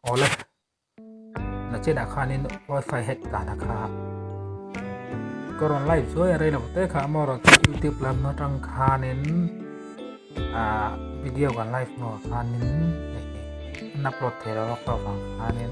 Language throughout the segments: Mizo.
Awle, na chena khanin wifi hack ta na kha. Ko ron live chu e rei lo te kha mo ron chu YouTube lam na tang khanin a video kan live mo khanin na plot thei lo ka vang khanin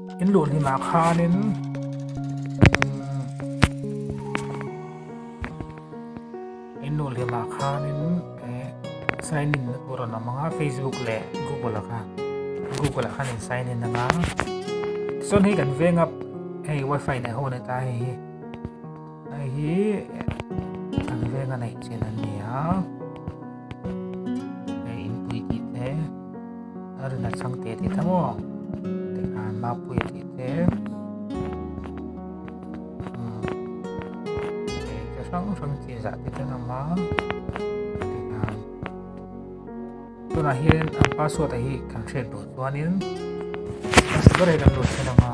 In luh hlun ah khan in in luh hlun ah khan in sign in na tur rawn awm ang a Facebook leh Google ah khan Google ah khan in sign in ang a chuan hei kan venga hei wifi nei ho a ni ta hei hi Hei hi an veng a neih chin an ni a, hei inpui tih te a rin a chang teh tih ta maw? Tikhan mapui a tih te hrang hrang chi zah te kan awm a tikhan tunah hian an password a hi kan hriat duh chuanin a sak ber hi kan lut theih ang a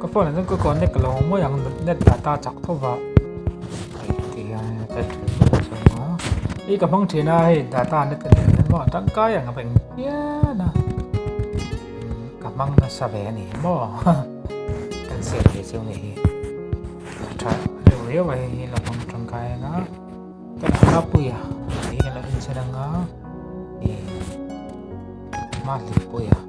Ka phone ah chuan ka connect lo mai ang net data chak tho va hei ka hmang thin a hei data net a nih loh ang tangkai ang a va in fiam a ka hmang nasa ve a ni hi maw cancel ve chu a ni hi ka tha riau riau a hei hi ka hmang tangkai ang a ka tha hlapui a tih hi ka la inchhe nang a ih mahni pawia.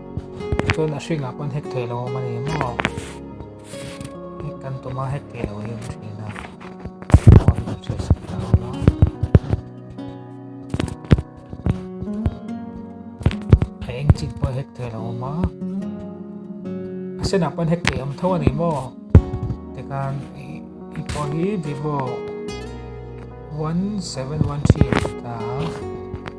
chuan a hringah pawn hek thei lo awm a ni maw hek kan tum a hek thei lo hi a hriat a phone a dah chhuah sak ta a awm a a eng chik pawh hek thei lo awm a a senah pawn hek thei awm tho a ni maw tikhan i pawh hi vivo one seven one three a ni ta a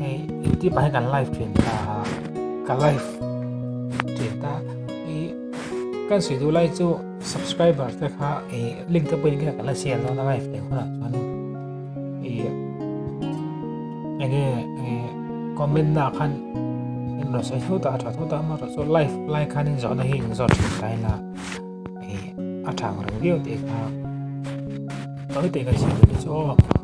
Hey, YouTube ah kan live stream ta ha. Ka live stream ta. Hey, kan si du lai chu subscriber ta kha hey, link ta pin ka la share no na live te khona chuan. Hey, enge comment na khan in lo sai thu ta tha thu ta ma ro so live live khan in zo na hi in zo thin kai na. Hey, a thang ro dio te kha. Tôi te kan si du chu